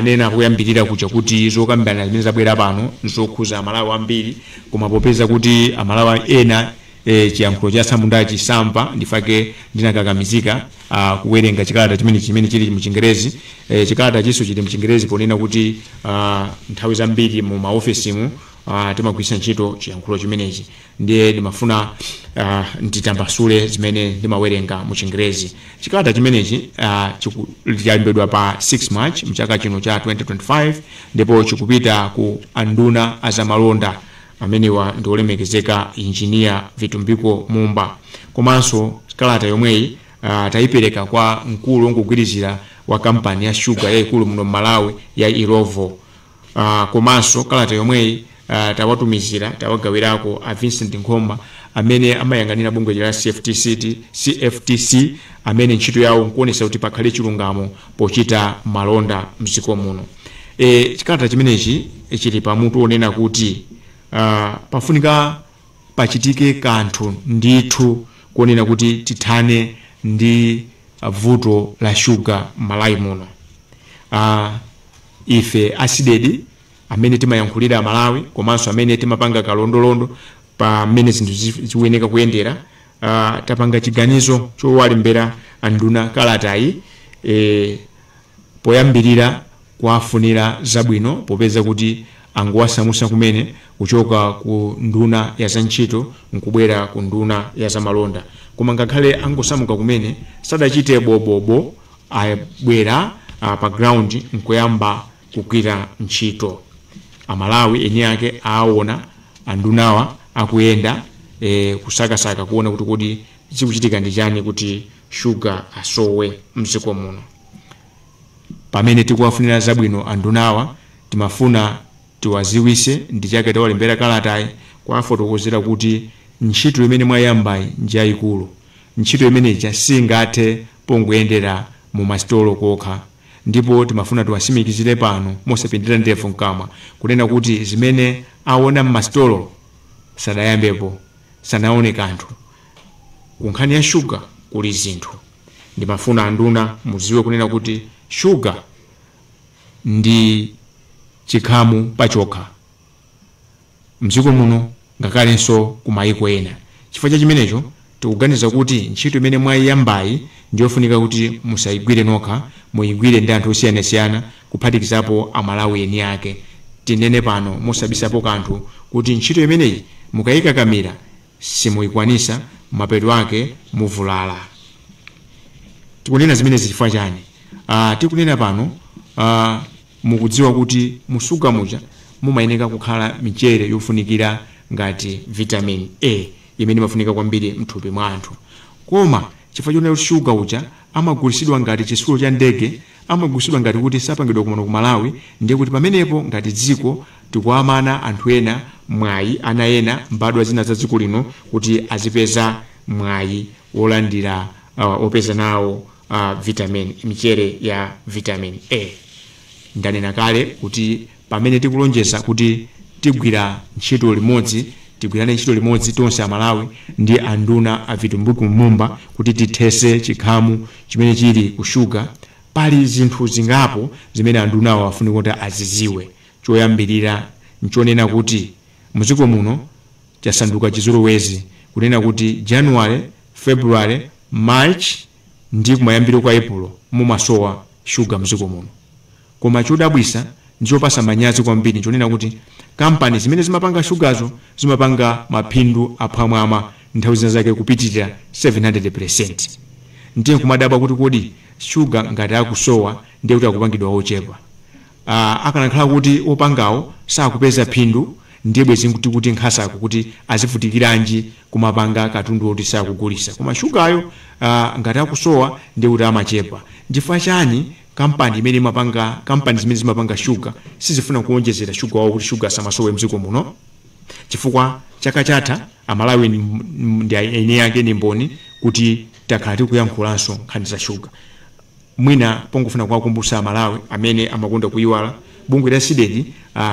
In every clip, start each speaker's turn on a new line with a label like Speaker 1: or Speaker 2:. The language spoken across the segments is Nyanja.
Speaker 1: Ndanena koyambirira kuja kuti zokambirana zimene zabwera pano nzokhuza Amalawi ambiri koma popeza kuti Amalawi ena chiyankhulo cha atsamundachi samva nchifukwa chake ndinakakamizika kuwerenga chikalata chimene chili mchingerezi. Chikalatachiso chili mchingerezi ponena kuti nthawi zambiri mu ma ofesimu timagwiritsa ntchito chiyankhulo chimenechi. ndiye ndimafuna uh, nditambasule zimene ndimawerenga mu chingerezi chikalata chimenechi uh, chalembedwa pa 6 march mchaka chino cha 2025 ndipo chikupita ku anduna azamalonda amenewa ndi olemekezeka injiniya Vitumbiko Mumba komanso kalata yomweyi uh, tayipereka kwa mkulu wongogwirizira wa kampani ya shuga yayikulu muno mmalawi ya Illovo Aaa komaso kalata yomweyi aa tawatumizira tawagawirako a Vincent Nkhoma amene amayang'anira bungwe lija la CFTC amene ntchito yawo nkuonesa kuti pakhale chilungamo pochita malonda mziko muno ee chikalata chimenechi chili pa mutu onena kuti aa pafunika pachitike kanthu ndithu konena kuti tithane ndi vuto la shuga mmalawi muno aa Ife a Cdedi amene timayankhulira Amalawi komanso amene timapanga kalondolondo pa mmene zinthu zikuyeneka kuyendera, tapanga chiganizo chowalembera a nduna kalatayi poyambilira kuwafunira zabwino popeza kuti angowasamutsa kumene kuchoka ku unduna wa za ntchito nkubwera ku unduna wa za malonda. Koma ngakhale angosamuka kumene, sadachite bo bo bo abwera ah, pa ground nkuyamba kugwira ntchito amalawi eni ake aawona andunawa akuyenda eh, kusakasaka kuona kuti kodi chikuchitika ndi chani kuti shuga asowe mdziko muno pamene tikuwafunira zabwino andunawa timafuna tiwaziwise ndi chake tawalembera kalatayi kuwafotokozera kuti ntchito imene mwayambayi njayikulu ntchito imeneyi singathe pongoyendera mu masitolo kokha ndipo timafuna tiwatsimikizire pano mosapindira ndevu mkamwa kunena kuti zimene awona mmasitolo sadayambepo sanawone kanthu ku nkhani ya sugar kuli zinthu ndimafuna anduna mudziwe kunena kuti sugar ndi chikhamu pachokha. mdziko muno ngakhalenso ku mayiko ena. Chifukwa cha chimenecho, tikuganiza kuti ntchito imene mwayiyambayi ndiyofunika kuti musayigwire nokha, muyigwire ndi anthu osiyanasiyana kuphatikizapo a Malawi eni ake. Tinene pano mosabisapo kanthu kuti ntchito imeneyi mukayikakamira simuyikwanisa, mapeto ake muvulala. Tikunena zimenezi chifukwa chani? Aaa tikunena pano aah. Mukudziwa kuti mu sugar muja mumayeneka kukhala michere yofunikira ngati vitamin A imene imafunika kwambiri mthupi mwa anthu. Koma chifukwa chonena kuti sugar uja amagulisidwa ngati chitsulo cha ndege, amagulisidwa ngati kuti sapangidwa kuno ku Malawi, ndiye kuti pamenepo ngati dziko tikuwamana anthu ena mwayi, ana ena, mbadwa zina za dziko lino kuti azipeza mwayi wolandira, wopeza nawo. vitamin michere ya vitamin a ndanena kale kuti pamene tikulonjeza kuti tigwira ntchito limodzi tigwirane ntchito limodzi tonse amalawi ndi anduna a vitumbiko mumba kuti tithese chikhamu chimene chili ku shuga pali zinthu zingapo zimene andunawo afunika kuti aziziwe choyambirira nchonena kuti mdziko muno chasanduka chizolowezi kunena kuti January, February, March ndi kumayambiro kwa Epulo mumasowa shuga m'dziko muno. Koma chodabwitsa ndi chopatsa manyazi kwambiri n'chonena kuti kampani zimene zimapanga shugazo zimapanga maphindu aphwamwamwa, nthawi zina zake kupitirira 700 peresenti. Ndiye n'kumadabwa kuti kodi shuga ngati akusowa ndiye kuti akupangidwa wochepa? Akanakhala kuti opangawo sakupeza phindu ndiye bwezi tikuti nkhasako kuti azivutikilanji kumapanga katundu oti sakugulisa koma sugaryo ngati akusowa ndiye kuti amachepa nchifukwa chani kampani imene imapanga kampani zimene zimapanga sugar sizifuna kuonjezera sugar wawo kuti sugar asamasowe mdziko muno chifukwa chaka chatha amalawi ndi eniake ndi mboni kuti takhala tikuyankhulanso nkhani za sugar. Mwina pongofuna kuwakumbutsa a Malawi amene amakonda kuyiwala, bungwe la Cdedi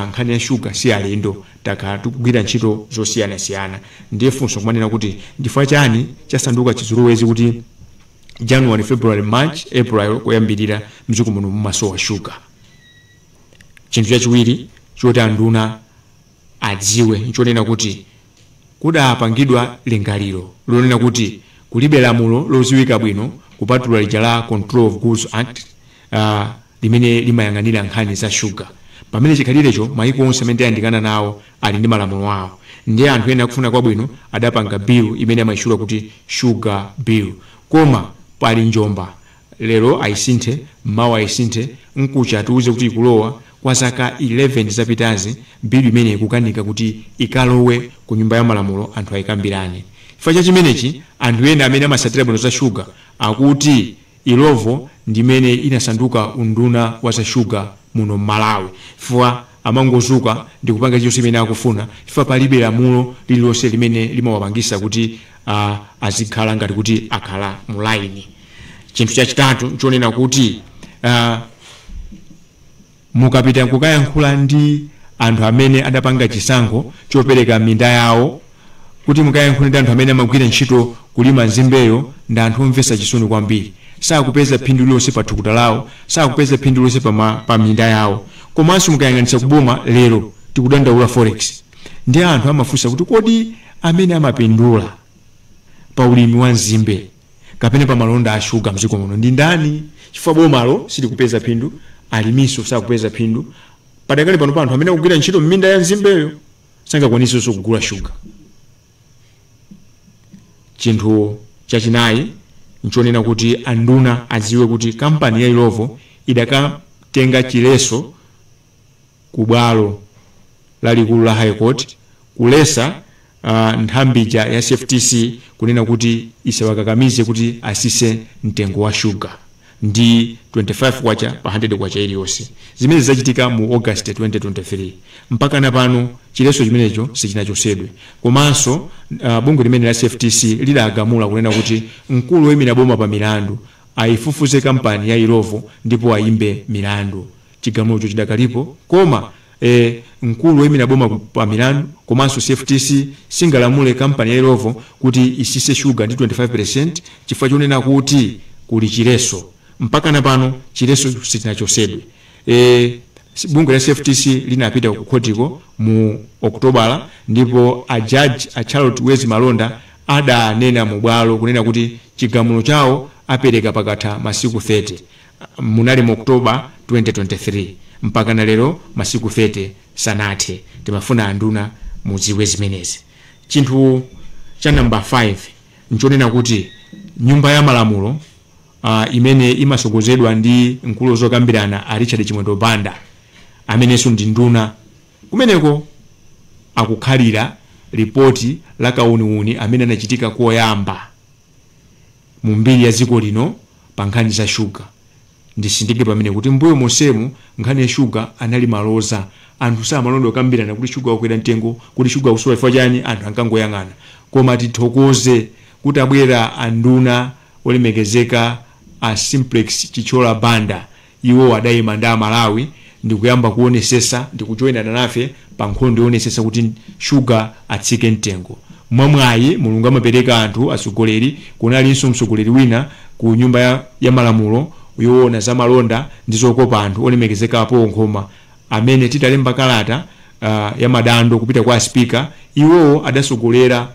Speaker 1: nkhani ya sugar si alendo, takhala tikugwira ntchito zosiyanasiyana ndiye funso nkumanena kuti nchifukwa chani chasanduka chizolowezi kuti January, February, March, April koyambirira mdziko muno mumasowa sugar? Chinthu chachiwiri choti anduna. adziwe nchonena kuti kudapangidwa lingaliro lonena kuti kulibe lamulo lodziwika bwino kupatula lija la Control of Goods Act limene limayang'anira nkhani za shuga pamene chikhalirecho maiko onse amene tayandikana nawo ali ndi malamulo awo ndiye anthu ena akufuna kwabwino adapanga bill imene amaitchula kuti Sugar Bill koma pali njomba Lero ayisinthe, mawa ayisinthe, mkucha atiuze kuti ikulowa, kwa zaka 11 zapitazi bill imeneyi ikukanika kuti ikalowe ku nyumba ya malamulo anthu ayikambirane. Chifukwa cha chimenechi anthu ena amene amasatira bwino za sugar akuti Illovo ndi imene inasanduka unduna wa za sugar muno m'Malawi chifukwa. Amangozuka ndikupanga chilichonse chimene akufuna chifukwa palibe lamulo lililonse limene limawapangisa kuti a azikhala ngati kuti akhala mu line. Chinthu chachitatu nchonena kuti a mukapita nkukayankhula ndi anthu amene adapanga chisankho chopereka minda yawo kuti mukayankhula ndi anthu amene amagwira ntchito kulima nzimbeyo ndi anthu omvesa chisoni kwambiri sakupeza phindu lilonse pa thukuta lawo sakupeza phindu lilonse pa, ma, pa minda yawo komanso mukayang'anitsa kuboma lero tikudandaula forex ndi anthu amafunsa kuti kodi amene amapindula pa ulimi wa nzimbe kapena pa malonda a shuga mdziko muno ndi ndani chifukwa bomalo silikupeza phindu aliminso sakupeza phindu padakali pano pa anthu amene akugwira ntchito m'minda ya nzimbeyo sangakwanisenso kugula shuga. Chinthu chachinayi n'chonena kuti anduna adziwe kuti kampani ya Illovo idakatenga chiletso ku bwalo lalikulu la High Court kuletsa ah, nthambi ija ya CFTC kunena kuti isawakakamize kuti atsitse mtengo wa shuga. ndi K25 pa K100 iliyonse. Zimenezi zachitika mu August 2023. Mpakana pano chiletso chimenecho sichinachotsedwe. Komanso bungwe limeneli la CFTC lidagamula kunena kuti mkulu woimira boma pa milandu aifufuze kampani ya Illovo ndipo aimbe milandu. Chigamulocho chidakalipo koma a mkulu woimira boma ku pa milandu komanso CFTC singalamule kampani ya Illovo kuti isitse shuga ndi 25 peresenti chifukwa chonena kuti kuli chiletso. Mpakana pano chiletsocho sichinachotsedwe. e Bungwe la CFTC linapita kukhotiko mu Okutobala ndipo a jaji a Charlotte Wezi Malonda adanena mubwalo kunena kuti chigamulo chawo apereka pakatha masiku 30. munali mu October 2023 mpakana lero masiku 30 sanathe timafuna anduna mudziwe zimenezi chinthu Cha number 5 nchonena kuti nyumba ya malamulo imene imasogozedwa ndi mkulu wazokambirana a Richard Chimwendo Banda amenenso ndi nduna kumeneko akukhalira report la kauniuni amene anachitika koyamba. mu mbiri ya dziko lino pa nkhani za shuga. Nditsindike pamene kuti m'mbuyo monsemu nkhani ya shuga anali maloza. Anthu samaloledwa kukambirana kuti shuga wakwera mtengo, kuti shuga akusowa chifukwa chani, anthu ankangoyang'ana. Koma tithokoze kuti atabwera a nduna olemekezeka a Simplex Chithyola Banda Iwo adayima ndi a Malawi ndikuyamba kuwonesesa ndikujoinana nafe pa nkhondo yowonesesa kuti sugar atsike mtengo. Mwa mwayi Mulungu amapereka anthu atsogoleri, kunalinso mtsogoleri wina ku nyumba ya malamulo yowona za malonda ndi zokopa anthu olemekezeka a Paul Nkhoma amene titalemba kalata ya madando kupita kwa a speaker iwowo adatsogolera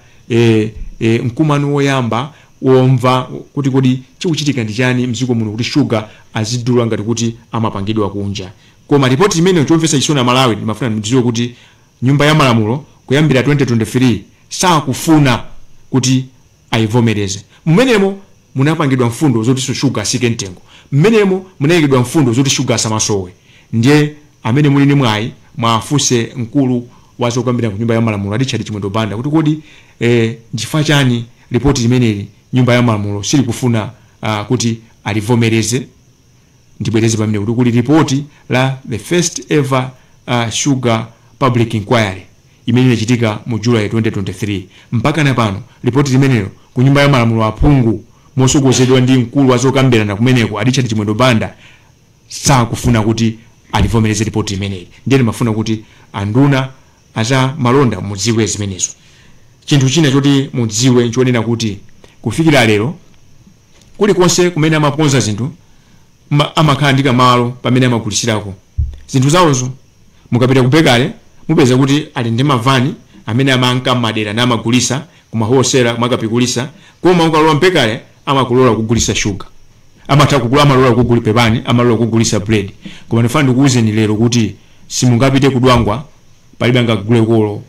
Speaker 1: mkumano woyamba womva kuti kodi chikuchitika ndi chani mdziko muno kuti sugar azidula ngati kuti amapangidwa kunja koma report imeneyo chomvetsa chisoni a Malawi ndimafuna ndidziwe kuti nyumba ya malamulo kuyambira 2023 sakufuna kuti ayivomereze mumenemo munapangidwa mfundo zoti sugar asike mtengo mmenemo munayikidwa mfundo zoti sugar asamasowe ndiye amene muli ndi mwayi mwafunse mkulu wa zokambirana ku nyumba ya malamulo a Richard Chimwendo Banda kuti kodi eh, nchifukwa chani Lipoti limeneli nyumba ya malamulo silikufuna kuti alivomereze. Ndibwereze pamenepo kuti kuli lipoti la the first ever sugar public inquiry imene inachitika mu July 2023. Mpakana pano lipoti limenelo ku nyumba ya malamulo aphungu mosogozedwa ndi mkulu wa zokambirana kumeneko a Richard Chimwendo Banda sakufuna kuti alivomereze lipoti limeneli ndiye timafuna kuti anduna A zamalonda mudziwe zimenezo. Chinthu china choti mudziwe nchonena kuti kufikira lero kulikonse kumene amakonza zinthu amakhala ndi kamalo pamene amagulitsirako zinthu zaozo. Mukapita ku bekale mupeza kuti ali ndi mavani amene amanka mmadera namagulitsa Kumahosera mwa kapikulisa koma ukalowa m'bekale amakulola kugulisa sugar amatha kugula amalola kukuguli pepani amalola kukugulisa bread koma ndifuna ndikuuzeni lero kuti simungapite ku Dwangwa palibe angaguleko olo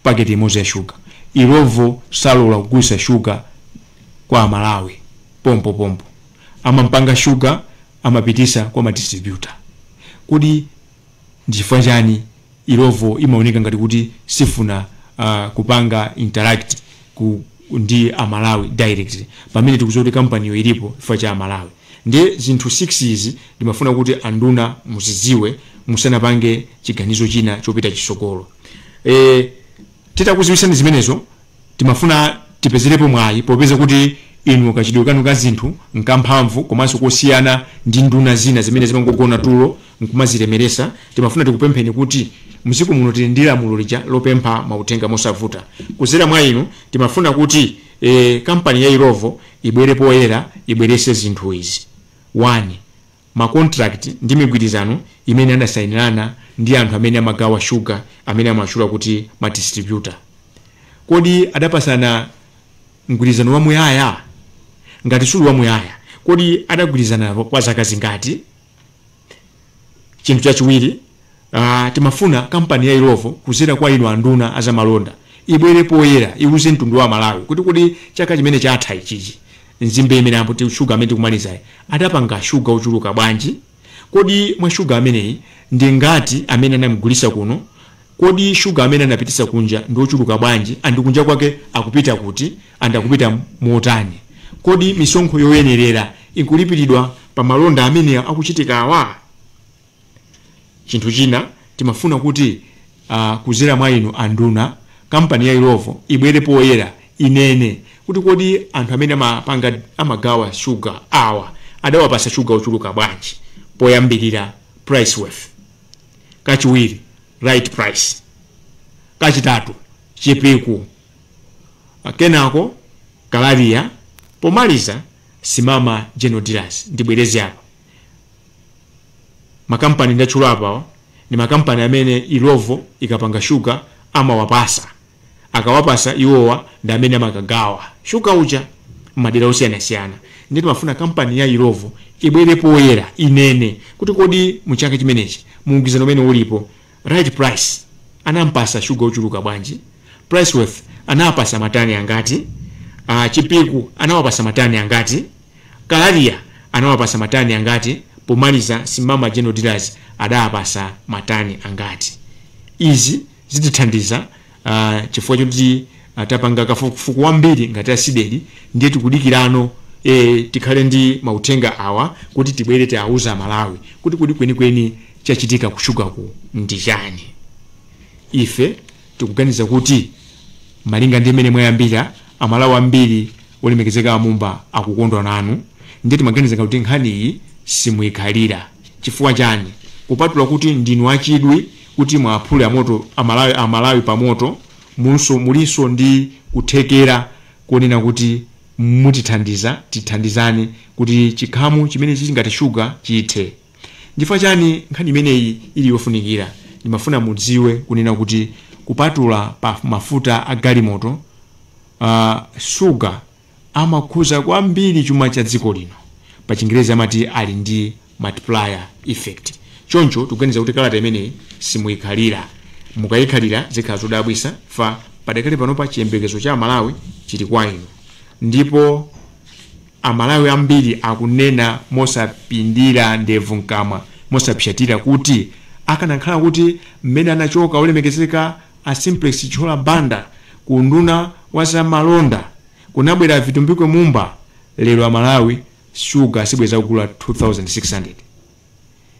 Speaker 1: paketi imozi ya sugar. Illovo salola kugulisa sugar kwa a Malawi pompo pompo amapanga sugar amapitisa kwa ma distributor. Kodi Nchifukwa chani Illovo imaoneka ngati kuti sifuna kupanga interact ndi a Malawi directly pamene tikudziwa kuti kampaniyo ilipo chifukwa cha a Malawi. Ndiye zinthu 6 izi ndimafuna kuti a nduna muzidziwe musanapange chiganizo china chopita chisogolo. Eee! Titakuziwitsani zimenezo, timafuna tipezerepo mwayi popeza kuti inu kachitidwe kanu ka zinthu nkamphamvu komanso kosiyana ndi nduna zina zimene zimangogona tulo nkumazilemeresa, timafuna tikupempheni kuti mdziko muno tili ndi lamulo lija lopempha mauthenga mosavuta. Kuzera mwa inu, timafuna kuti ee kampani ya Illovo ibwere poyera ibwerese zinthu izi. 1, ma contract ndi migwirizano imene adasainirana ndi anthu amene amagawa sugar amene amatchula kuti ma distributor? Kodi adapatsana mgwirizano wamuyaya? Ngati suli wamuyaya, kodi adagwirizana kwa zaka zingati? Chinthu chachiwiri. Aaa timafuna kampani ya Illovo kuzera kwa inu anduna azamalonda ibwere poyera iwuze mtundu wa amalawi kuti kodi chaka chimene chatha ichichi mzimbe imene amati sugar amene tikumalizayu adapanga sugar ochuluka bwanji kodi mwa sugar ameneyi ndingati amene anamugulitsa kuno kodi sugar amene anapititsa kunja ndiochuluka bwanji and kunja kwake akupita kuti and akupita motani kodi misonkho yoyenerera ikulipilidwa pa malonda amene akuchitika awa? Chinthu china timafuna kuti uh, kuzera mwa inu anduna kampani ya Illovo ibwere poyera inene kuti kodi anthu amene amapanga amagawa sugar awa adawapatsa sugar ochuluka bwanji poyambirira Price Worth kachiwiri Right Price kachitatu Chipiku kenako Kalaria pomaliza Simama General Dealers ndibwereze apa makampani ndatchula apawa ndi makampani amene Illovo ikapanga sugar amawapatsa, akawapatsa iwowa ndi amene amakagawa sugar uja m'madera osiyanasiyana. Ndiye timafuna kampani ya Illovo ibwere poyera inene kuti kodi mu chaka chimenechi mgwirizano umene ulipo Right price anampatsa sugar ochuluka bwanji? Priceworth anawapatsa matani angati? Chipiku anawapatsa matani angati? Kalaria anawapatsa matani angati? Pomaliza Simama General Dealers adawapatsa matani angati? Izi zitithandiza uh, chifukwa choti uh, tapanga kafukufuku wambiri ngati a CDEDI ndiye tikudikirano e, tikhale ndi mauthenga awa kuti tibwere tiwauze amalawi kuti kodi kwenikweni chachitika kushugaku ndi chani ife tikuganiza kuti malinga ndi mmene mwayambira amalawi ambiri olemekezeka a Mumba akukondwa nanu ndiye timaganiza kuti nkhaniyi simuyikhalira chifukwa chani kupatula kuti ndinu achidwi kuti muwaphule amoto amalawi amalawi pamoto mulunso mulinso ndi kuthekera konena kuti mutithandiza tithandizane kuti chinkhanu chimene chili ngati sugar chithe nchifukwa chani nkhani imeneyi ili yofunikira ndimafuna mudziwe kunena kuti kupatula pa mafuta a galimoto uh, sugar amakhuza kwambiri chuma cha dziko lino. Pachingerezi amati ali ndi multiplier effect. Choncho tikuganiza kuti kalata imeneyi simuikhalira. Mukaikhalira zikhala zodabwisa chifukwa padakali panopa chiyembekezo cha Amalawi chili kwa inu ndipo Amalawi ambiri akunena mosapindira ndevu m'kamwa, mosapsatira kuti akanakhala kuti mmene anachoka Olemekezeka A Simplex Chithyola Banda ku unduna wa za malonda kunabwera a Vitumbiko Mumba lero a Malawi sugar sibwezi akugula 2600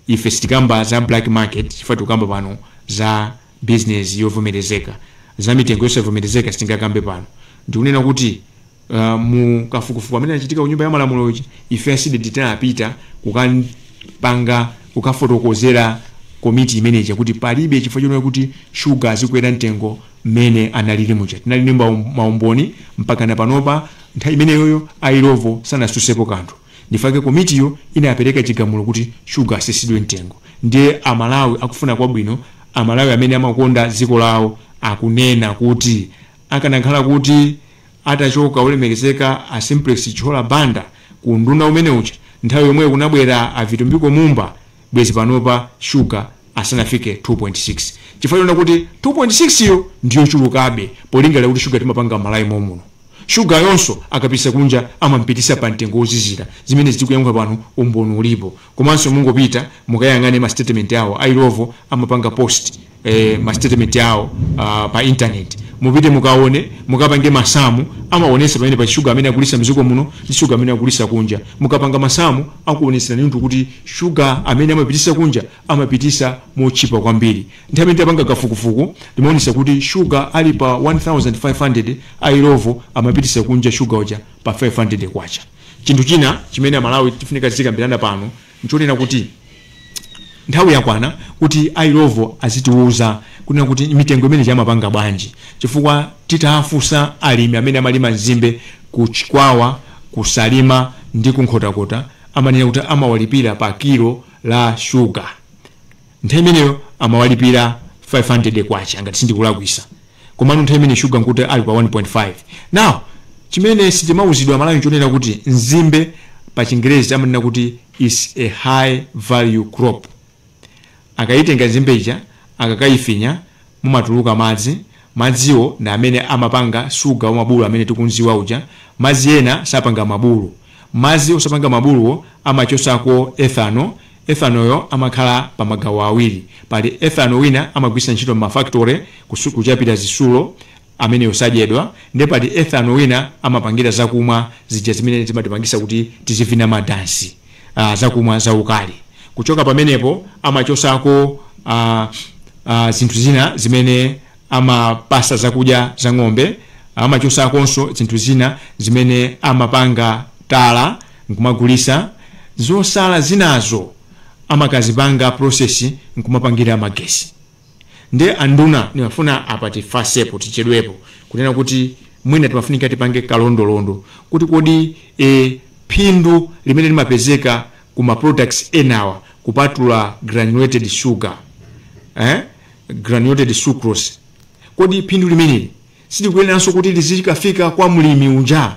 Speaker 1: ife sitikamba za black market chifukwa tikukamba pano za business yovomerezeka za mitengo yosavomerezeka sitingakambe pano ndikunena kuti Uh, mu kafukufuku amene anachitika ku nyumba ya malamulo uja ife a CDEDI tinapita kukapanga kukafotokozera komiti imeneja kuti palibe chifukwa chonena kuti shuga azikwera mtengo mmene analili muja tinali ndi maum- maumboni mpaka na panopa nthawi imeneyoyo a Illovo sanasusepo kanthu ndifake komitiyo inapereka chigamulo kuti shuga asisidwe mtengo ndiye amalawi akufuna kwabwino amalawi amene amakonda dziko lawo akunena kuti akanakhala kuti Atachoka olemekezeka a Simplex Chithyola Banda ku unduna umene uja, nthawi yomweyo kunabwera a Vitumbiko Mumba bwezi panopa shuga asanafike 2.6 chifukwa chonena kuti 2.6 yo ndiyochulukabe polingalira kuti shuga timapanga m'Malawi mom'muno. Shugayonso akapitisa kunja amampitisa pa mtengo wozizira. Zimenezi tikuyankhula pano umboni ulipo. Komanso mungopita mukayang'ane ma statement awo a Illovo amapanga post. eh, ma statement awo uh, pa internet mupite mukaone mukapange masamu amaonesa pamenepa shuga amene agulisa mziko muno ndi shuga amene agulisa kunja mukapanga masamu akuoneseranitu kuti shuga amene amapitisa kunja amapitisa motchipa kwambiri nthawi imene tapanga kafukufuku timaonesa kuti shuga ali pa 1500 a Illovo amapitisa kunja shuga uja pa 500 kwacha chinthu china chimene amalawi tifunika zikambirana pano nchonena kuti nthawi yakwana kuti a Illovo azitiuza kunena kuti mitengo imeneja amapanga bwanji chifukwa titafunsa alimi amene amalima nzimbe ku Chikwawa, ku Salima ndi ku Nkhotakota amanena kuti amawalipira pa kilo la shuga. Nthawi imeneyo amawalipira K500 ngati sindikulakwisa komano nthawi imene sugar nkuti ali pa 1.5 now chimene sitimauzidwa amalawi nchonena kuti nzimbe pa chingerezi amanena kuti is a high value crop akaitenga nzimbe ija akakaifinya mumatuluka madzi madziwo ndi amene amapanga sugar wa mabulu amene tikunziwa uja madzi ena sapanga mabulu madzi osapanga mabuluwo amachosako ethanol Ethanoyo amakhala pa magawo awiri. Pali ethano wina amagwiritsa ntchito mma factory kusu, kuchapira zitsulo, ameneyo sadyedwa, nde pali ethano wina amapangira zakumwa zija zimene zimatipangisa kuti tizivina ma dansi, aah zakumwa zaukali. Kuchoka pamenepo amachotsako aah aah zinthu zina zimene. amapatsa zakudya za ng'ombe amachotsakonso zinthu zina zimene amapanga tala nkumagulitsa zotsala zinazo amakazipanga process nkumapangira magetsi nde anduna nimafuna apa tifatsepo tichedwepo kunena kuti mwina timafunika tipange kalondolondo kuti kodi e, phindu limene limapezeka ku ma products enawa kupatula granulated sugar eh? granulated sucrose kodi phindu limeneli silikuyeneranso kuti lizikafika kwa mlimi unja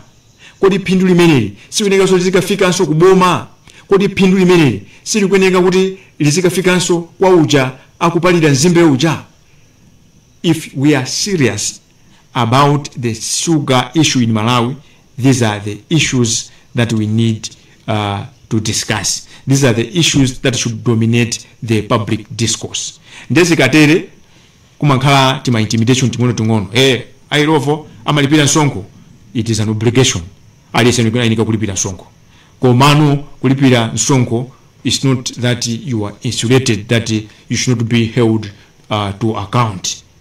Speaker 1: kodi phindu limeneli silikuyenekanso lizikafikanso ku boma kodi phindu limeneli silikuyeneka kuti lizikafikanso kwa uja akupalira nzimbe uja if we are serious about the sugar issue in malawi these are the issues that we need uh, to discuss these are the issues that should dominate the public discourse ndezikatere kumankhala tima intimidation ting'ono ting'ono eh airovo amalipira msonkho it is an obligation aliyense ayenera kulipira msonkho komano kulipira msonkho is not that you are insulated that you should not be held uh, to account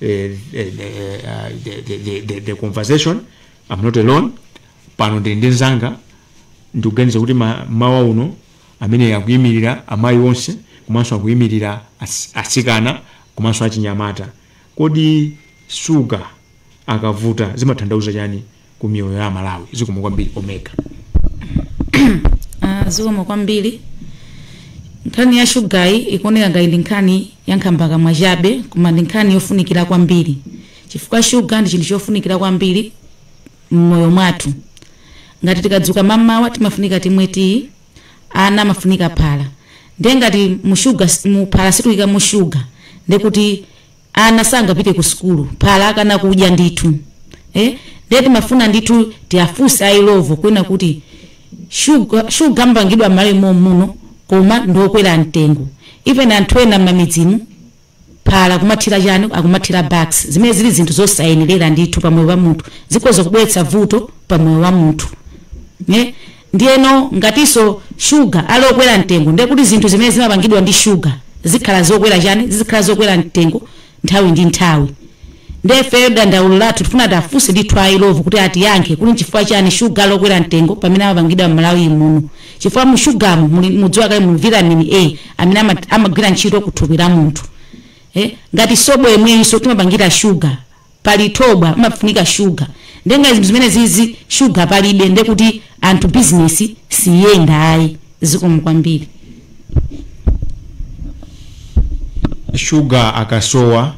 Speaker 1: eh, to, to, uh, dominate the conversation I'm not alone pano ndili ndi nzanga ndikuganiza kuti ma- mau ao amene akuyimirira amayi onse komanso akuyimirira as- asikana komanso achinyamata kodi shuga akavuta zimatanthauza chani ku miyoyo ya amalawi zikomo kwambiri omega Ah,
Speaker 2: zikomo kwambiri nkhani ya shugayi ikuoneka ngati ndi nkhani ya nkhambakamwa chabe koma ndi nkhani yofunikira kwambiri chifukwa shuga ndi chinthu chofunikira kwambiri mmoyo mwathu ngati tikadzuka mamawa timafunika timwe tiyi ana amafunika phala ndiye ngati mushuga muphala situyika mushuga ndekuti ana sangapite ku sukulu phala akana kudya ndithu eh? ndiye timafuna ndithu tiafunse a Illovo kunena kuti shuga shuga amapangidwa m'Malawi momuno koma ndiokwera mtengo even anthu ena m'mamidzimu phala akumathira chani akumathira bax zimene zili zinthu zosayenerera ndithu pamoyo wa munthu zikhoza kubweretsa vuto pamoyo wa munthu ne Ndiyeno ngatinso shuga ali okwera mtengo, ndiye kuti zinthu zimene zimapangidwa ndi shuga zikhala zokwera chani, zizikhala zokwera mtengo nthawi ndi nthawi. Ndiye ifeyo dandaulo lathu tikufuna tiafunse ndithu a Illovo kuti atiyankhe kuti nchifukwa chani shuga ali okwera mtengo pamene amapangidwa m'Malawi muno. Chifukwa mu shugamu muli mudziwa kale muli vitamini A amene ama- amagwira ntchito ku thupi la munthu. Eh, ngati sobo yemweyinso timapangira shuga pali thobwa pamafunika sugar nde ngati zinthu zimenezizi sugar palibe nde kuti anthu business siyenda ayi zikomo kwambiri
Speaker 1: shuga akasowa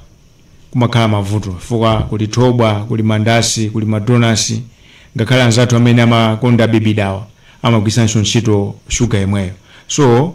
Speaker 1: kumakhala mavuto chifukwa kuli thobwa kuli mandasi kuli madonasi ngakhale anzathu amene amakonda bibidawa amagwiritsanso ntchito shuga yemweyo so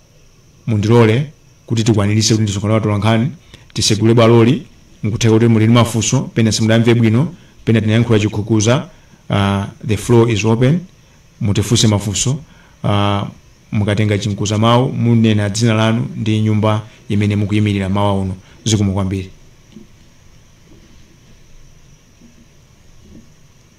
Speaker 1: mundilole kuti tikwaniritse kuti ndi msonkhano wa atolankhani tisegule bwaloli nkutheka kuti muli ndi mafunso pena simudamve bwino pena tinayankhula chikhukuza uh, the floor is open mutifunse mafunso uh, mukatenga chinkuza mawu munena dzina lanu ndi nyumba imene mukuyimirira m'mawa uno zikomo kwambiri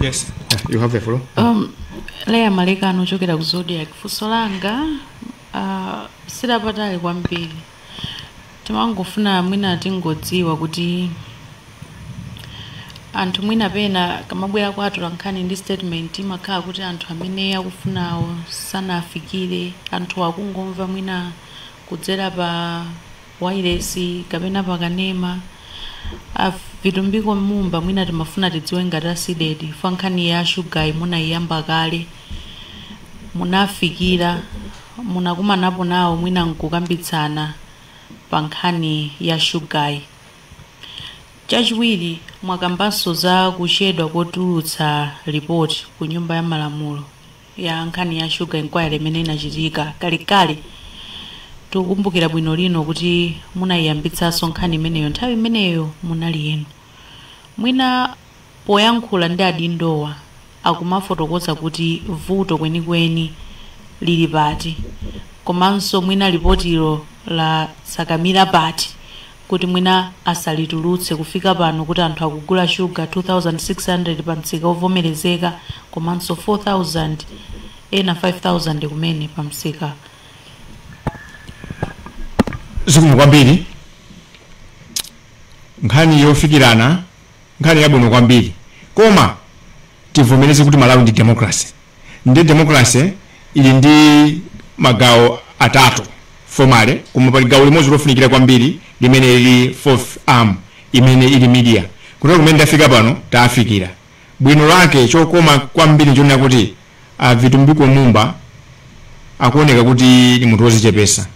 Speaker 1: Yes. You have the floor. Um,
Speaker 3: leya malekano ochokera ku zodiac funso langa uh, silapatali kwambiri timangofuna mwina tingodziwa kuti anthu mwina pena akamabwera kwa atolankhani ndi statement imakhala kuti anthu amene akufunawo sanafikire anthu akungomva mwina kudzera pa wireless kapena pa kanema a vitumbiko mumba mwina timafuna tidziwe ngati a cdedi chifukwa nkhani ya shugayi munaiyamba kale munafikira munakumanapo nawo mwina nkukambitsana pa nkhani ya shugayi chachiwiri mwakambanso za kuchedwa kotulutsa lipoti ku nyumba ya malamulo ya nkhani ya Sugar Inquiry imene inachitika kalekale. Tikukumbukira bwino lino kuti munaiyambitsanso nkhani imeneyo nthawi imeneyo munali inu. Mwina poyankhula ndi adindowa akumafotokoza kuti vuto kwenikweni lili pati komanso mwina lipotilo latsakamira pati kuti mwina asalitulutse kufika pano kuti anthu akugula shuga 2600 pa msika ovomerezeka komanso 4000 ena 5000 kumene pa msika
Speaker 1: zikomo kwambiri nkhani yofikirana nkhani yabwino kwambiri koma tivomereze kuti malawi ndi democracy Nde democracy ili ndi magawo atatu formally, koma pali gawo limodzi lofunikira kwambiri limene lili fourth arm imene ili media. Kutero kumene tafika pano tafikira. Bwino lake chokoma kwambiri nchonena kuti a Vitumbiko Mumba akuoneka kuti ndi munthu wozichepesa.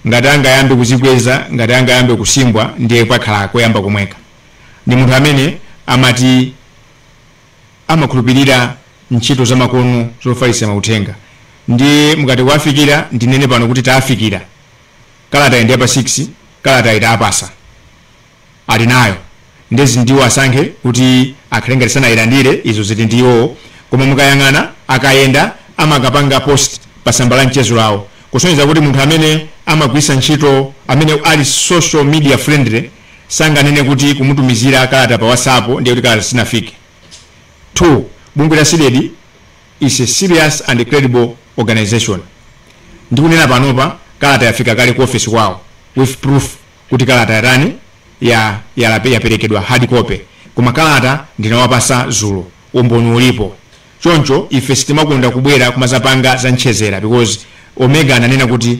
Speaker 1: Ngati angayambe kuzikweza, ngati angayambe kusimbwa ndiye pakhala koyamba komweka. Ndi munthu amene amati amakhulupirira ntchito zamakono zofalitsira mauthenga ndiye mukati kuwafikira ndinene pano kuti tawafikira kalatayi ndi yapa 6 kalatayi tawapatsa ali nayo ndezi ndiwo asankhe kuti akhale ngati sanayilandire izo ziti ndi iwowo koma mukayang'ana akayenda amakapanga post pa tsamba la mchezo lawo kusonyeza kuti munthu amene amagwiritsa ntchito amene ali social media friendly sanganene kuti kumutumizira kalata pa whatsapp ndiye kuti kalata sinafike 2 bungwe la cdedi is a serious and credible organization ndikunena panopa kalata yafika kale ku office kwawo with proof kuti kalata yatani ya yalape- yaperekedwa hard copy koma kalata ndinawapatsa dzulo umboni ulipo choncho ife sitimakonda kubwera kumadzapanga za mchezera because omega ananena kuti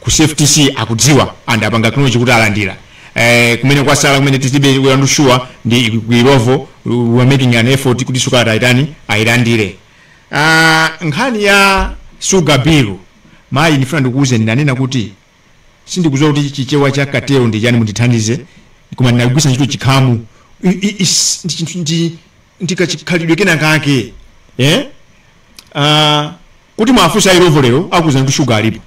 Speaker 1: ku cftc akudziwa and apanga acknowledge kuti alandira eh, kumene kwasala kumene titibe we are not sure ndi ku Illovo we are making an effort kuti tsiku ata ayitani ayilandire Ah, nkhani ya sugar bill mayi ndifuna ndikuwuzeni ndanena kuti sindikudziwa kuti chichewa cha cartel ndi chani mundithandize koma ndinagwiritsa ntchito chikhamu I- i- is- ndi chinthu ndi- ndi kachikhalidwe kena kake eh? Ah, Kuti mwafunsa Illovo lero akuuzani kuti sugar alipo.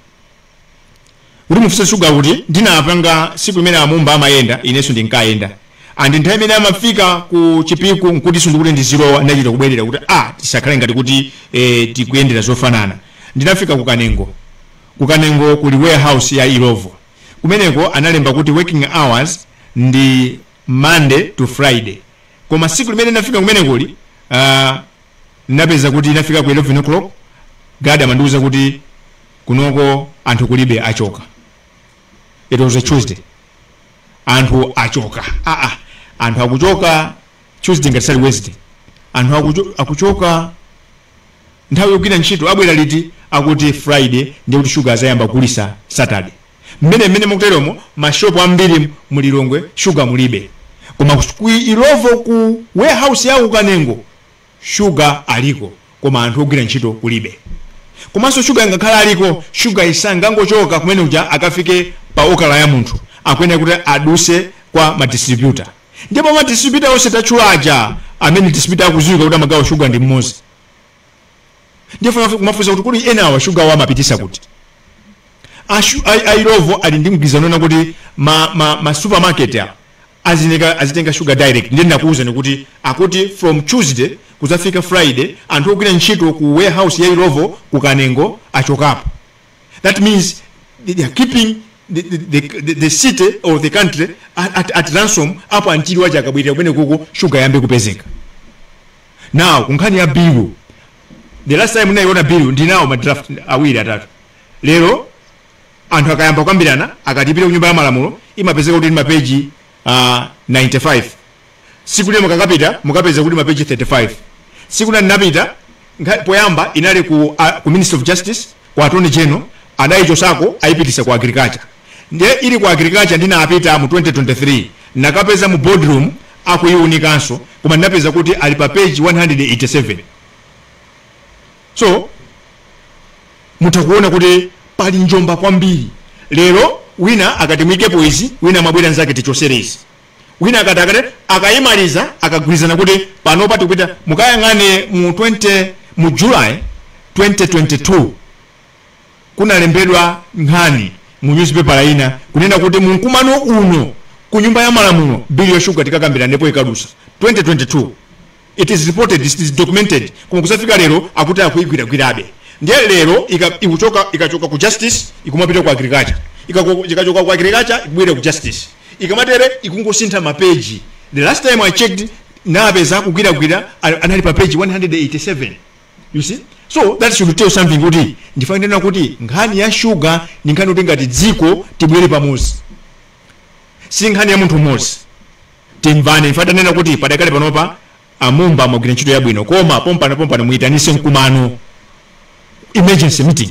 Speaker 1: Koma mufunse sugar kuti ndinapanga siku limene a Mumba amayenda inenso ndinkayenda and nthawi imene amafika ku Chipiku nkutinso ndikuti ndizilowa ndinachita kubwerera kuti a tisakhale ngati kuti eh, tikuyendera zofanana. Ndinafika ku Kanengo. Ku Kanengo kuli warehouse ya Illovo. Kumeneko analemba kuti working hours ndi Monday to Friday. Koma siku limene ndinafika kumenekoli ah, Ndinapeza kuti ndinafika ku 11 o'clock guard amandiuza kuti kunoko anthu kulibe achoka. It was a Tuesday. Anthu achoka. Ah ah. Anthu akuchoka Tuesday ngati si Wednesday. Anthu akucho, akuchoka nthawi yogwira ntchito abwera liti akuti Friday ndiye kuti sugar adzayamba kugulitsa Saturday. mmene mmene mukuteromo ma shop ambiri mu Lilongwe sugar mulibe koma ku Illovo ku warehouse ya ku Kanengo sugar aliko koma anthu ogwira ntchito kulibe komanso sugar ngakhale aliko sugar singangochoka kumene uja akafike pa okala ya munthu akuyenera kuti adutse kwa ma distributor ndipo ma distributor onse tatchula aja amene distributor akudziwika kuti amagawa sugar ndi mmodzi ndifuna kumafunsa kuti kodi enawa shugawo amapitisa kuti Ashu- ai- a Illovo ali ndi mgwirizano na kuti ma, ma, ma supermarket a azineka azitenga sugar direct ndiye ndakuwuzani kuti akuti from tuesday kuzafika friday anthu ogwira ntchito ku warehouse ya Illovo ku kanengo achokapo that means they they are keeping the, the, the, the, the city or the country at, at, at ransom up until waja akabwerera kumenekuko sugar yambe kupezeka now kunkhani ya bill the last time ndinaiona bill ndinawo ma draft awiri atatu lero anthu akayamba kukambirana akatipitire ku nyumba ya malamulo imapezeka kuti ndi mapeji 95 siku lina mukakapita mukapeza kuti mapeji 35 siku lina ndinapita nkha- poyamba inali ku, uh, ku ministry of justice ku attorney general adayichosako ayipitisa ku agriculture Ndiye ili ku Agriculture ndinapita mu 2023 ndinakapeza mu boardroom akuiunikanso koma ndinapeza kuti ali pa page 187. So mutha kuona kuti pali njomba kwambiri. Lero wina akati muikepo izi, wina amabwera nzake tichotsereni izi. Wina akati akati akayimaliza akagwirizana kuti panopa tikupita mukayang'ane mu July 2022 kunalembedwa nkhani mu nyuzipepala ina kunena kuti mu mkumano uno ku nyumba ya malamulo bill ya sugar tikakambiranepo ikadusa 2022 it is reported it is documented koma kuzafika lero akuti akuigwiragwirabe ndiye lero ika, ikuchoka ikachoka ku justice ikumapita ku agriculture Ikako- ikachoka ku agriculture ikubwera ku justice ikamatere ikungosintha mapeji the last time i checked napeza akugwiragwira a- anali pa page 187 you see so that should tell something kuti ndikufuna ndinene kuti nkhani ya shuga ndi nkhani kuti ngati dziko tibwere pamodzi si nkhani ya munthu mmodzi timvane ndifuna ndinene kuti padakale panopa a Mumba mwagwira ntchito yabwino koma pompano pompano muyitanise mkumano emergency meeting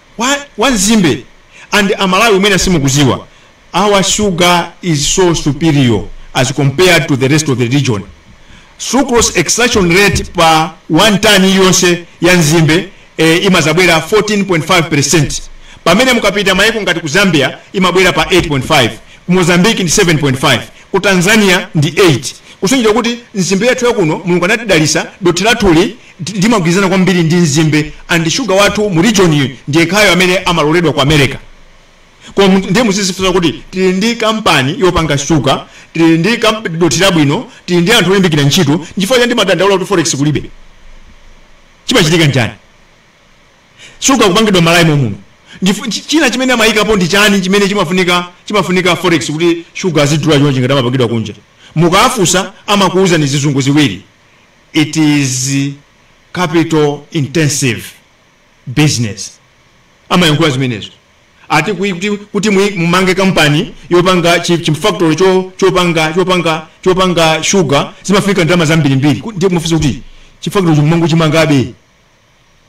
Speaker 1: wa wa nzimbe and amalawi mwina simukuziwa our sugar is so superior as compared to the rest of the region sucrose extraction rate pa 1 ton yonse ya nzimbe eh, imazabwera 14.5% pamene mukapita maiko ngati ku zambia imabwera pa 8.5 ku mozambique ndi 7.5 ku tanzania ndi 8 kusonyeza kuti nzimbe yathu yakuno mulungu anatidalisa dothi lathuli li- limagwirizana kwambiri ndi nzimbe and shuga wathu mu region iyi ndiyekhayo amene amaloledwa ku america koma mu- ndiye muzizifunsa kuti tili ndi kampani yopanga shuga tili ndi kamp- dothi labwino tili ndi anthu olimbikira ntchito nchifukwa chani timadandaula kuti forex kulibe chimachitika nchani shuga kupangidwa malawi momuno Ndifu- chi- china chimene amayikapo ndi chani chimene chimafunika chimafunika forex kuti shuga azidula chonchi ngati amapangidwa kunja mukafunsa amakuwuzani zizungu ziwiri it is capital intensive business amayankhula zimenezo ati kui- kuti, kuti mui- mumange kampani yopanga chi- chimfactory cho- chopanga chopanga chopanga shuga zimafunika ndalama zambirimbiri Ku- ndiye mufunsa kuti chifactory chimango chimangabe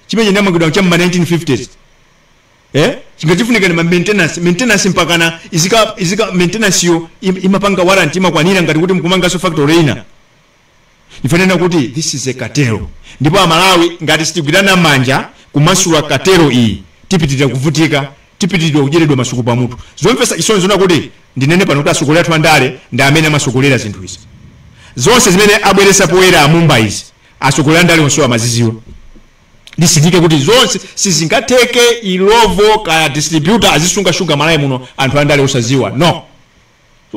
Speaker 1: chimene chinamangidwa cha mma 1950s eh chikufunika ndi ma maintenance maintenance mpakana izika izika maintenance yo im- imapanga warranty imakwanira ngati kuti mkumanganso factory ina ife tanena kuti this is a cartel ndipo amalawi ngati sitigwirana manja kumasula cartel iyi tipitirira kuvutika tipitiridwa kudyeredwa masuku pamutu zomvetsa chisoni zona kuti ndinene pano kuti asogolera athu andale ndi amene amasogolera zinthu izi zonse zimene abweresa poyera a Mumba izi asogolera andale onse amaziziwa ndisindike kuti zonse sizingatheke Illovo kaya distributor azisunga shuga Malawi muno anthu andale osaziwa no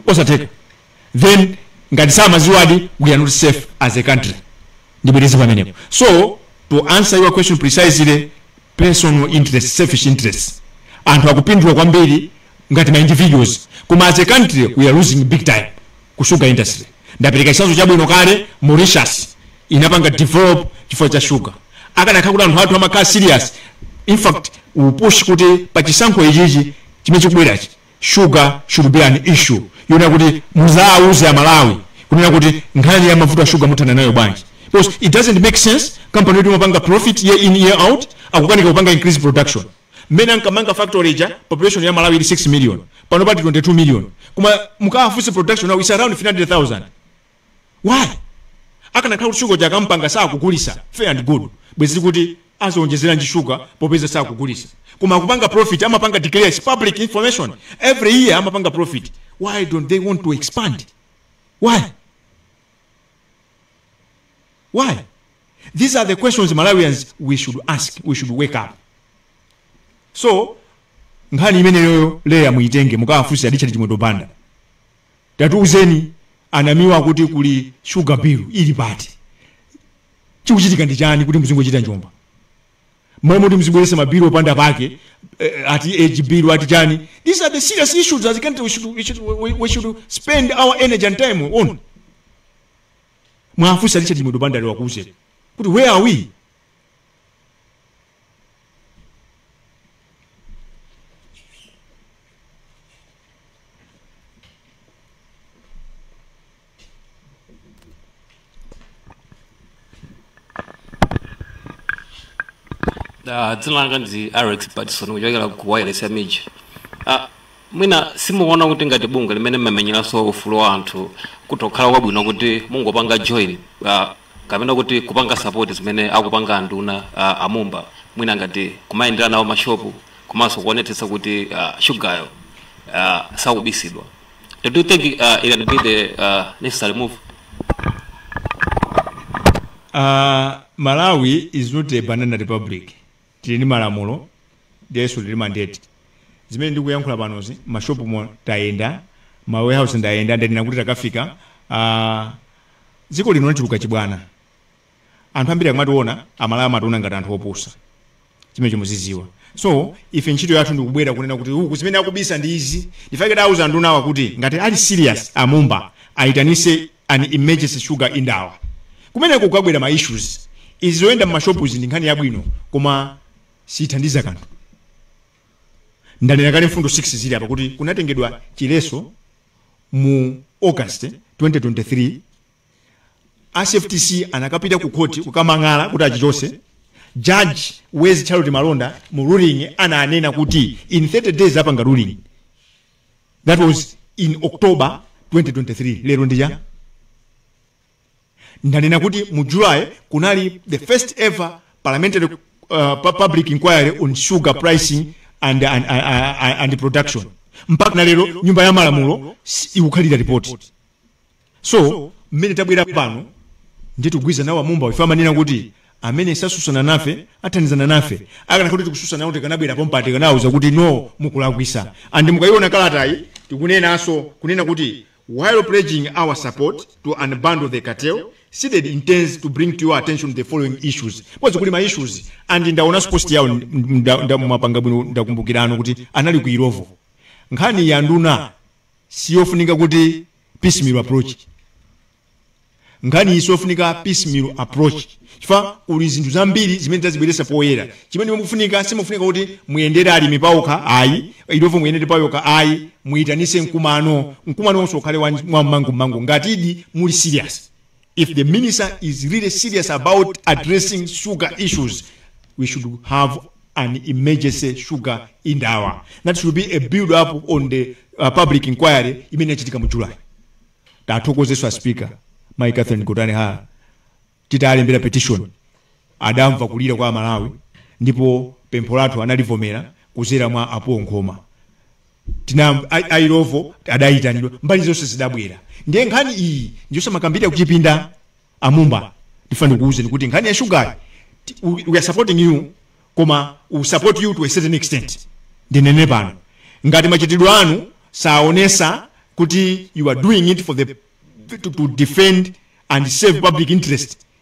Speaker 1: osatheka then ngati samaziwadi we are not safe as a country ndibwereze pamenepo so to answer your question precisely personal interest selfish interest anthu akupindula kwambiri ngati ma individuals koma as a country we are losing big time ku sugar industry ndapereka chisanzo chabwino kale mauritius inapanga develop chifukwa cha sugar akanakhala kuti anthu athu amakhala serious in fact tipush kuti pa chisankho ichichi chimene chikubwerachi Sugar should be an issue yonena kuti muzauze a Malawi kunena kuti nkhani ya mavuto a sugar muthana nayo bwanji because it doesn't make sense company yoti imapanga profit year in year out akukanika kupanga increase production mmene ankamanga factory ija population ya Malawi ili 6 million pano pati 22 million koma mukawafunse production now is around 300,000 why akanakhala kuti sugar uja akampanga sakugulisa fair and good bwezi tikuti azionjezeranji sugar popeza sakugulisa koma akupanga profit amapanga declare is public information every year amapanga profit why don't they want to expand why why these are the questions malawians we should ask we should wake up so nkhani imeneyoyo Leah muitenge mukawafunse a Richard Chimwendo Banda Tatiuzeni a Namiwa akuti kuli sugar bill ili pati? Chikuchitika ndi chani kuti muzingochita njomba? Mmalo moti muzibweresa ma bill opanda pake ati age bill ati chani these are the serious issues as a country we should, we should, we, we should spend our energy and time on. Muwafunse a Richard Chimwendo Banda lero akuuzeni kuti where are we?
Speaker 4: Uh, dzina langa ndi Alex Patson kuchokera ku wailesi ya MIJ. Uh, mwina simukuona kuti ngati bungwe limene mmamenyeranso ufulu wa anthu ndi kukhala kwabwino kuti mungopanga join uh, kapena kuti kupanga support zimene akupanga anduna uh, a Mumba mwina ngati kumayendera nawo mashopu komanso kuonetsetsa kuti uh, shugayo uh, sakubisidwa do you think uh, it can be the uh, necessary move Uh,
Speaker 1: Malawi is not a banana republic. Tili ndi malamulo ndiponso tili ndi mandate. Zimene ndikuyankhula panozi mma shopumo tayenda, mma warehouse ndayenda ndanena kuti takafika. Aaa dziko lino lachuluka chibwana. Anthu ambiri akamawaona a Malawi amawaona ngati anthu opusa. Chimenecho muzidziwa. So ife ntchito yathu ndikubwera kunena kuti uku zimene akubisa ndi izi. N'chifukwa chake tawauza andunawa kuti ngati ali serious a Mumba ayitanitse an emergency sugar indaba kumene kukabwera ma issues izi zoyenda mmashopuzi ndi nkhani yabwino koma sithandiza kanthu ndanena kale mfundo 6 zili apa kuti kunatengedwa chiletso mu august 2023 a CFTC anakapita ku khoti kukadandaula kuti achichotse judge Wezi charlotte malonda mu ruling ananena kuti in 30 days apanga ruling that was in october 2023 lero ndi ili ndanena kuti mu july kunali the first ever parliamentary uh, pu- public inquiry on sugar pricing and, and, and, and production mpakana lero nyumba ya malamulo si- ikukhalira ripoti so mmene tabwera pano ndiye tikugwirizana nawo a Mumba ife timanena kuti amene satsutsana nafe athandizana nafe akanakhala kuti tikutsutsana nawo tikanabwera pompa tikanawauza kuti no mukulakwisa and mukayiona kalatayi tikunenanso kunena kuti while pledging our support to unbundle the cartel CDEDI intends to bring to your attention the following issues 'cause kuli ma issues and ndaonanso post yawo apanga bwino ndakumbukiranso kuti anali ku Illovo nkhani ya nduna siyofunika kuti piecemeal approach nkhani iyi siyofunika piecemeal approach chifukwa kuli zinthu zambiri zimene tazibweretsa poyera chimene chikufunika sikufunika kuti muyendere alimi paokha ayi Illovo muyendere paokha ayi muyitanise mkumano mkumano wonse ukhale wa- wa mmangu mmangu ngatidi muli serious if the minister is really serious about addressing sugar issues we should have an emergency sugar indaba that should be a build up on the uh, public inquiry imene inachitika mu july tithokozenso a speaker mai catherine gotani hara titalembera petition adamva kulira kwa amalawi ndipo pempho lathu analivomera kudzera mwa a Paul Nkhoma tina a- ailovo adayitanidwa mbali zonse zidabwera ndiye nkhani iyi ndiyosamakambirira kuchipinda amumba ndifuna ndikuwuzeni kuti nkhani ya shugayi ti- we we are supporting you koma we support you to a certain extent ndinene pano ngati machitidwe anu saonesa kuti you are doing it for the to, to defend and serve public interest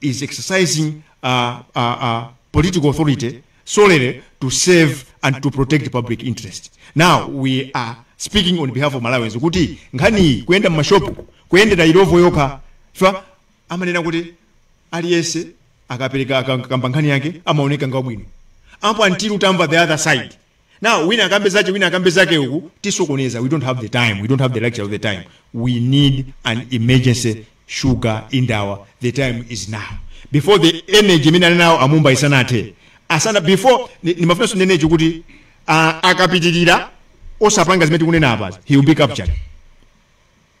Speaker 1: is exercising uh, uh, uh, political authority solely to serve and to protect public interest now we are speaking on behalf of malawians kuti nkhaniyi kuyenda mmashopu kuyendera ilovo yokha chifukwa amanena kuti aliyense akapereka akakamba nkhani yake amaoneka ngati wabwino apo until utamva the other side now wina akambe zache wina akambe zake ukutisokoneza we don't have the time we don't have the luxury of the time we need an emergency sugar indaba the time is now before the energy imene ali nawo amumba isanathe asana before ni- nimafuna ndinene ichi kuti ah, akapitirira osapanga zimene tikunena apazi he will be captured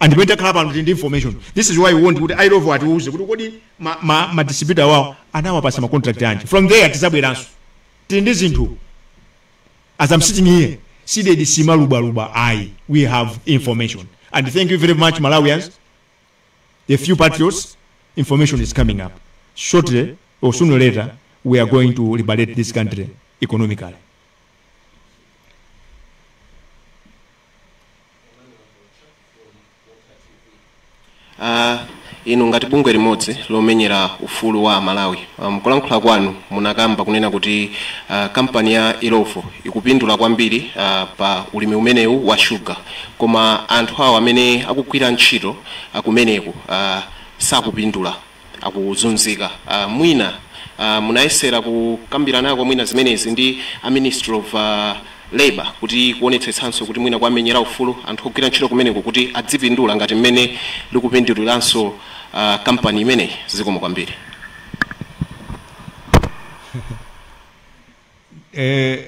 Speaker 1: and pamene takhala pano tili ndi information this is why we want kuti ilovo atiuze kuti kodi ma, ma, ma distributor awo anawapasa ma contract anji from there tizabweranso tili ndi zinthu as i'm sitting here CDEDI siimalubwalubwa ayi we have information and thank you very much malawians a few patriots information is coming up shortly or sooner or later we are going to liberate this country economically
Speaker 5: Ah, inu ngati bungwe limodzi lomenyera ufulu wa amalawi ah, mkulankhula kwanu munakamba kunena kuti ah, kampani ya ilovo ikupindula kwambiri ah, pa ulimi umenewu wa shuga koma anthu awo amene akugwira ntchito ah, kumeneko ah, sakupindula akuzunzika. Mwina munayesera kukambiranako mwina zimenezi ndi a Ministry of Labour kuti kuonetsetsanso kuti mwina kuwamenyera ufulu anthu ogwira ntchito kumeneko kuti adzipindula ngati mmene likupinduliranso kampani imeneyi? Zikomo kwambiri.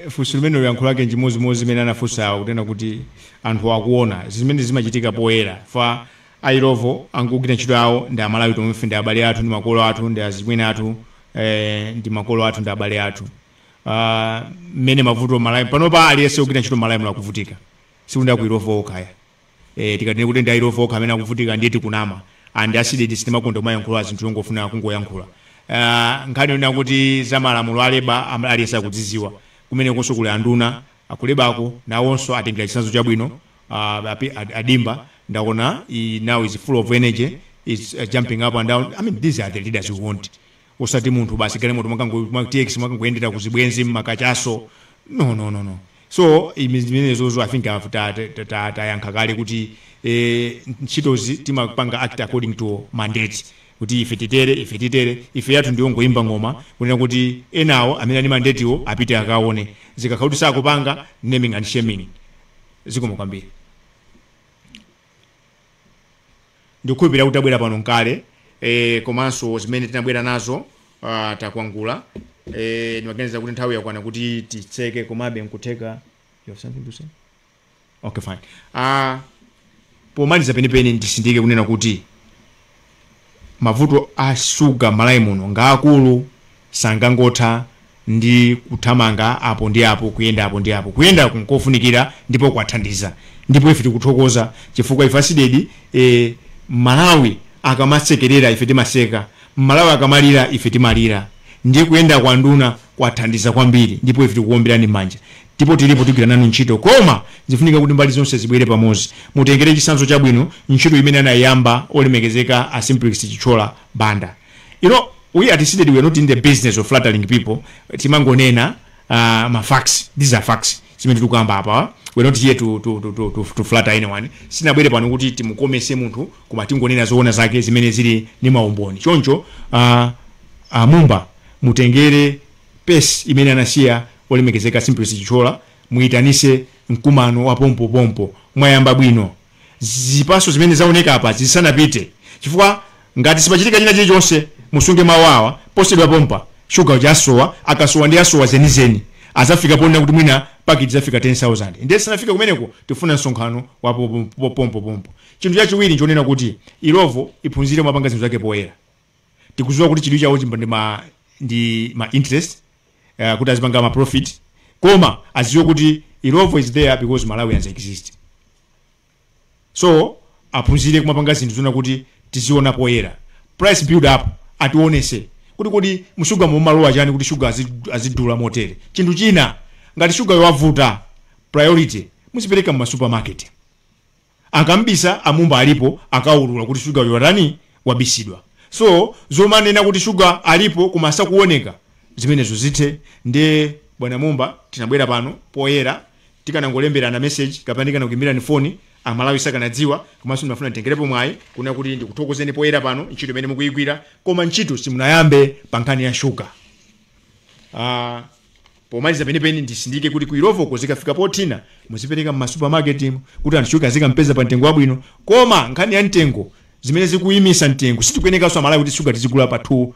Speaker 1: funso limenelo yankho lake nchimodzimodzi limene anafunsawo kunena kuti anthuwo akuona zimene zimachitika poyera chifukwa a Illovo angogwira ntchito yawo ndi amalawi tomwefe ndi abale athu ndi makolo athu ndi azichimwene athu eh, ndi makolo athu ndi abale athu Ah, mmene mavuto malawi panopa aliyense ogwira ntchito malawi muno akuvutika sikuti ndi aku Illovo okha eh, tikatinene kuti ndi ayilovo okha amene akuvutika ndiye tikunama and a CDEDI sitimakonda kumayankhula zinthu yongofuna kungoyankhula uh, nkhani yonena kuti za malamulo a labour am- aliyense akudziziwa kumenekonso kuli anduna aku labour ko nawonso atengera chitsanzo chabwino uh, api- ad- a Dimba ndaona i- now is full of energy is uh, jumping up and down i mean these are the leaders we want osati munthu basi galimoto mwakango mwa tx mwakangoyendera ku zibwenzi mmakachaso no no no no so imenezo i think ta- ta- ta- ta- tayankha kale kuti eh, ntchitozi timapanga act according to mandate kuti ife titere ife titere ife yathu ndiyongoyimba ng'oma kunena kuti enawo amene ali mandatewo apite akaone zikakhala kuti sakupanga naming and shaming zikomo kwambiri Ndikukhulupirira kuti tabwera pano mkale eh komanso zimene tinabwera nazo ah, takwangula eh, ndimaganiza kuti nthawi yakwana kuti titseke komabe nkutheka you have something to say? Okay, fine. Ah, pomaliza penipeni ndisindike kunena kuti Mavuto a sugar mmalawi muno ngaakulu sangangotha ndi kuthamanga apo ndi apo kuyenda apo ndi apo. Kuyendaku nkofunikira ndipo kwathandiza ndipo ife tikuthokoza chifukwa ife a Cdedi mmalawi akamasekerera ife timaseka mmalawi akamalira ife timalira ndiye kuyenda kwa nduna kwathandiza kwambiri ndipo ife tikuomberani mmanja Ndipo tilipo tigwira nanu ntchito koma zifunika kuti mbali zonse zibwere pamodzi. Mutengere chitsanzo chabwino ntchito imene anayiyamba olemekezeka a Simplex Chithyola Banda. You know we at Cdedi we are not in the business of flattering people timangonena uh, ma facts these are facts zimene tikukamba apawa we are not here to, to, to, to, to, to flatter anyone sitinabwere pano kuti timukomese munthu koma tingonena zoona zake zimene zili ndi maumboni choncho uh, uh, mumba mutengere pace imene anasiya olemekezeka simplex chithyola muitanise mkumano wa pompo pompo mwayamba bwino zipaso zimene zaoneka apazi zisatinyenge chifukwa ngati sipachitika china chilichonse musunge mawu awa posedwa pompa sugar uja asowa akasowa ndiye asowa zenizeni izafika ponena kuti mwina paketi izafika 10000 ndiye tisanafike kumeneko tifuna msonkhano wa po- po- pompo pompo chinthu chachiwiri nchonena kuti illovo iphunzire kumapanga zinthu zake poyera tikuziwa kuti chidwi chawo chimakhala ndi ma ndi ma interest uh, kuti azipanga ma profit koma aziwe kuti illovo is there because malawians exist so aphunzire kumapanga zinthu zonena kuti tiziona poyera price build up ationetse kuti kodi mshuga mumalowa chani kuti shuga azi- azidula motere chinthu china ngati shugayo wavuta priority muzipereka mma supermarket akamabisa amumba alipo akawaulula kuti sugar uyu watani wabisidwa so zomanena kuti sugar alipo koma sakuoneka zimenezo zithe nde bwana mumba tinabwera pano poyera tikanangolemberana message kapena ndikanakuimbirani foni amalawi sakanadziwa komanso ndimafuna nditengerepo mwayi kunena kuti ndikuthokozeni poyera pano ntchito imene mukuyigwira koma ntchito simunayambe pa nkhani ya shuga Ah, Pomaliza penipeni ndisindike kuti ku Illovoko zikafika pothina muzipereka m'ma supermarket mu kuti anthu shuga azikampeza pa mtengo wabwino. Koma nkhani ya mtengo zimene zikuyimisa mtengo sitikuyenekanso Amalawi kuti shuga tizigula pa 2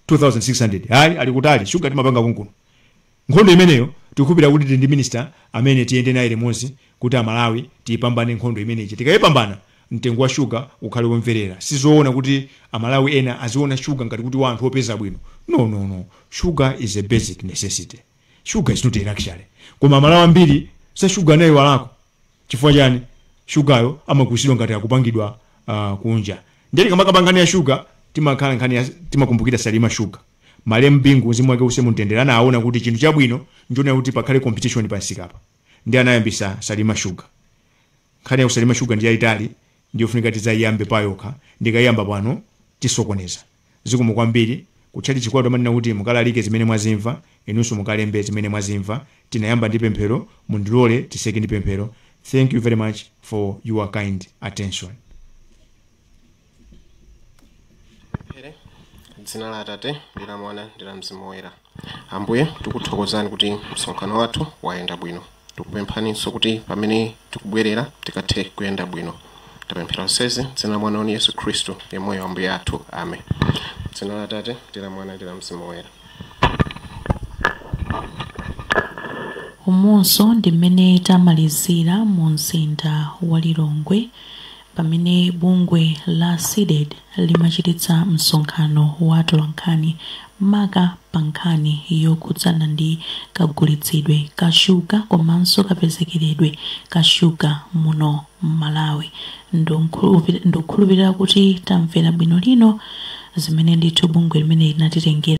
Speaker 1: 2600 ayi ali kutali shuga timapanga konkuno. Nkhondo imeneyo tikukhulupirira kuti tili ndi minister amene tiyende naye limodzi kuti Amalawi tiyipambane nkhondo imeneyi. Tikayipambana mtengo wa sugar ukhale womverera sizoona kuti amalawi ena aziona sugar ngati kuti wa anthu opeza bwino no no no sugar is a basic necessity sugar is not a luxury koma amalawi ambiri za sugar anayiwalako chifukwa chani shugayo amagulitsidwa ngati akupangidwa uh, kunja ndiye tikamakamba nkhani ya shuga timakhala nkhani ya- timakumbukira salima shuga malemu bingu mzimu wake use mumtendere anaona kuti chinthu chabwino njonena kuti pakhale competition pansikapa ndi anayambisa salima shuga Nkhani ya kusalima shuga ndi yaitali ndiyofunika tidzaiyambe payokha ndikaiyamba pano tisokoneza. Zikomo kwambiri. Ku tchalitchi kwathu amanena kuti mukalalike zimene mwazimva, inunso mukalembe zimene mwazimva. Tinayamba ndi pemphero, mundilole tiseke ndi pemphero. Thank you very much for your kind attention.
Speaker 5: Tipemphere, dzina la Atate ndi la Mwana ndi la Mzimu Woyera. Ambuye, tikuthokozani kuti msonkhano wathu wayenda bwino. Tikupemphaninso kuti pamene tikubwerera tikathe kuyenda bwino. Tapemphera zonsezi m'dzina la Mwana wanu Yesu Khristu, yemweyo Ambuye athu. Amen. Dzina la Atate ndi la Mwana ndi la Mzimu
Speaker 3: Woyera. Umunso ndi mmene tamalizira mu mzinda wa Lilongwe Pamene bungwe la CDEDI limachititsa msonkhano wa atolankhani maka pa nkhani yokhudzana ndi kagulitsidwe ka shuga komanso kapezekeredwe ka shuga muno m'Malawi, ndikukhulupirira kuti tamvera bwino lino zimene ndithu bungwe limeneli linatitengera.